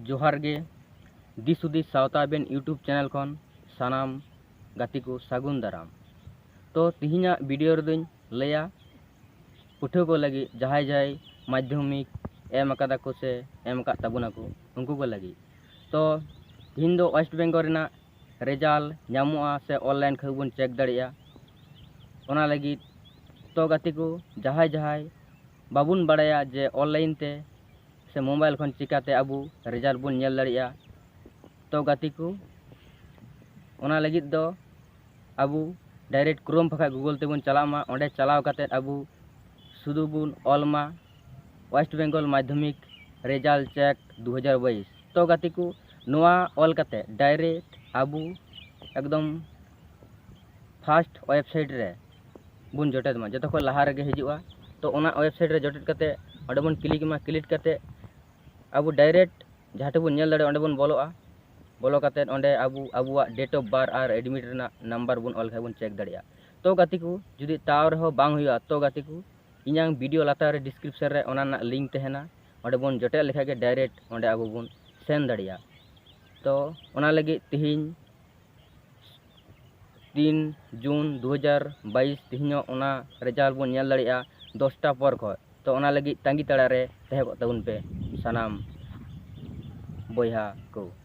ᱡᱚᱦᱟᱨ ᱜᱮ ᱫᱤᱥ ᱦᱩᱫᱤᱥ ᱥᱟᱶᱛᱟ ᱟᱵᱮᱱ ᱤᱭᱩᱴᱩᱵᱽ ᱪᱮᱱᱮᱞ ᱠᱷᱚᱱ ᱥᱟᱱᱟᱢ ᱜᱟᱛᱮ ᱠᱚ ᱥᱟᱹᱜᱩᱱ ᱫᱟᱨᱟᱢ ᱛᱚ ᱛᱤᱦᱤᱧᱟᱜ ᱵᱷᱤᱰᱤᱭᱳ ᱨᱮᱫᱚᱧ ᱞᱟᱹᱭᱟ ᱯᱟᱹᱴᱷᱩᱣᱟᱹ ᱠᱚ ᱞᱟᱹᱜᱤᱫ ᱡᱟᱦᱟᱸᱭ ᱡᱟᱦᱟᱸᱭ ᱢᱟᱫᱽᱫᱷᱚᱢᱤᱠ ᱮᱢ ᱟᱠᱟᱫᱟ ᱠᱚ ᱥᱮ ᱮᱢ ᱟᱠᱟᱫ ᱛᱟᱵᱚᱱᱟ ᱠᱚ ᱩᱱᱠᱩ ᱠᱚ ᱞᱟᱹᱜᱤᱫ ᱛᱚ ᱛᱤᱦᱤᱧ ᱫᱚ ᱳᱭᱮᱥᱴ ᱵᱮᱝᱜᱚᱞ ᱨᱮᱱᱟᱜ ᱨᱮᱡᱟᱞ ᱧᱟᱢᱚᱜᱼᱟ ᱥᱮ ᱚᱱᱞᱟᱭᱤᱱ ᱠᱷᱚᱡ ᱵᱚᱱ ᱪᱮᱠ ᱫᱟᱲᱮᱭᱟᱜᱼᱟ ᱚᱱᱟ ᱞᱟᱹᱜᱤᱫ ᱛᱚ ᱜᱟᱛᱮ ᱠᱚ ᱡᱟᱦᱟᱸᱭ ᱡᱟᱦᱟᱸᱭ ᱵᱟᱵᱚᱱ ᱵᱟᱲᱟᱭᱟ ᱡᱮ ᱚᱱᱞᱟᱭᱤᱱ ᱛᱮ ᱥᱮ ᱢᱳᱵᱟᱭᱤᱞ ᱠᱷᱚᱱ ᱪᱤᱠᱟᱹᱛᱮ ᱟᱵᱚ ᱨᱮᱡᱟᱞ ᱵᱚᱱ ᱧᱮᱞ ᱫᱟᱲᱮᱭᱟᱜᱼᱟ ᱛᱚ ᱜᱟᱛᱮ ᱠᱚ ᱚᱱᱟ ᱞᱟᱹᱜᱤᱫ ᱫᱚ ᱟᱵᱚ ᱰᱟᱭᱨᱮᱠᱴ ᱠᱨᱳᱢ ᱵᱟᱠᱷᱟᱡ ᱜᱩᱜᱳᱞ ᱛᱮᱵᱚᱱ ᱪᱟᱞᱟᱜ ᱢᱟ ᱚᱸᱰᱮ ᱪᱟᱞᱟᱣ ᱠᱟᱛᱮ ᱟᱵᱚ ᱥᱩᱫᱩ ᱵᱚᱱ ᱚᱞ ᱢᱟ ᱳᱭᱮᱥᱴ ᱵᱮᱝᱜᱚᱞ ᱢᱟᱫᱽᱫᱷᱚᱢᱤᱠ ᱨᱮᱡᱟᱞᱴ ᱪᱮᱠ ᱫᱩ ᱦᱟᱡᱟᱨ ᱵᱟᱭᱤᱥ ᱛᱚ ᱜᱟᱛᱮ ᱠᱚ ᱱᱚᱣᱟ ᱚᱞ ᱠᱟᱛᱮ ᱰᱟᱭᱨᱮᱠᱴ ᱟᱵᱚ ᱮᱠᱫᱚᱢ ᱯᱷᱟᱥᱴ ᱳᱭᱮᱵᱽᱥᱟᱭᱤᱴ ᱨᱮ ᱵᱚᱱ ᱡᱚᱴᱮᱫ ᱢᱟ ᱡᱚᱛᱚ ᱠᱷᱚᱱ ᱞᱟᱦᱟ ᱨᱮᱜᱮ ᱦᱤᱡᱩᱜᱼᱟ ᱛᱚ ᱚᱱᱟ ᱳᱭᱮᱵᱽᱥᱟᱭᱤᱴ ᱨᱮ ᱡᱚᱴᱮᱫ ᱠᱟᱛᱮ ᱚᱸᱰᱮ ᱵᱚᱱ ᱠᱞᱤᱠ ᱢᱟ ᱠᱞᱤᱠ ᱠᱟᱛᱮ ᱟᱵᱚ ᱰᱟᱭᱨᱮᱠᱴ ᱡᱟᱦᱟᱸ ᱴᱷᱮᱱ ᱵᱚᱱ ᱧᱮᱞ ᱫᱟᱲᱮᱭᱟᱜᱼᱟ ᱚᱸᱰᱮ ᱵᱚᱱ ᱵᱚᱞᱚᱜᱼᱟ ᱵᱚᱞᱚ ᱠᱟᱛᱮ ᱚᱸᱰᱮ ᱟᱵᱚ ᱟᱵᱚᱣᱟᱜ ᱰᱮᱴ ᱚᱯᱷ ᱵᱟᱨ ᱟᱨ ᱮᱰᱢᱤᱴ ᱨᱮᱱᱟᱜ ᱱᱟᱢᱵᱟᱨ ᱵᱚᱱ ᱚᱞ ᱠᱷᱟᱱ ᱵᱚᱱ ᱪᱮᱠ ᱫᱟᱲᱮᱭᱟᱜᱼᱟ ᱛᱚ ᱜᱟᱛᱮ ᱠᱚ ᱡᱩᱫᱤ ᱛᱟᱣ ᱨᱮᱦᱚᱸ ᱵᱟᱝ ᱦᱩᱭᱩᱜᱼᱟ ᱛᱚ ᱜᱟᱛᱮ ᱠᱚ ᱤᱧᱟᱝ ᱵᱷᱤᱰᱤᱭᱳ ᱞᱟᱛᱟᱨ ᱨᱮ ᱰᱤᱥᱠᱨᱤᱯᱥᱚᱱ ᱨᱮ ᱚᱱᱟ ᱨᱮᱱᱟᱜ ᱞᱤᱝᱠ ᱛᱟᱦᱮᱱᱟ ᱚᱸᱰᱮ ᱵᱚᱱ ᱡᱚᱴᱮᱫ ᱞᱮᱠᱷᱟᱡ ᱜᱮ ᱰᱟᱭᱨᱮᱠᱴ ᱚᱸᱰᱮ ᱟᱵᱚ ᱵᱚᱱ ᱥᱮᱱ ᱫᱟᱲᱮᱭᱟᱜᱼᱟ ᱛᱚ ᱚᱱᱟ ᱞᱟᱹᱜᱤᱫ ᱛᱤᱦᱤᱧ ᱛᱤᱱ ᱡᱩᱱ ᱫᱩ ᱦᱟᱡᱟᱨ ᱵᱟᱭᱤᱥ ᱛᱤᱦᱤᱧᱚᱜ ᱚᱱᱟ ᱨᱮᱡᱟᱞᱴ ᱵᱚᱱ ᱧᱮᱞ ᱫᱟᱲᱮᱭᱟᱜᱼᱟ ᱫᱚᱥᱴᱟ ᱯᱚᱨ ᱠᱷᱚᱡ ᱛᱚ ᱚᱱᱟ ᱞᱟᱹᱜᱤᱫ ᱛᱟᱺᱜᱤ ᱛᱟᱲᱟᱨᱮ ᱛᱟᱦᱮᱸ ᱠᱚᱜ ᱛᱟᱵᱚᱱ ᱯᱮ ᱥᱟᱱᱟᱢ ᱵᱚᱭᱦᱟ ᱠᱚ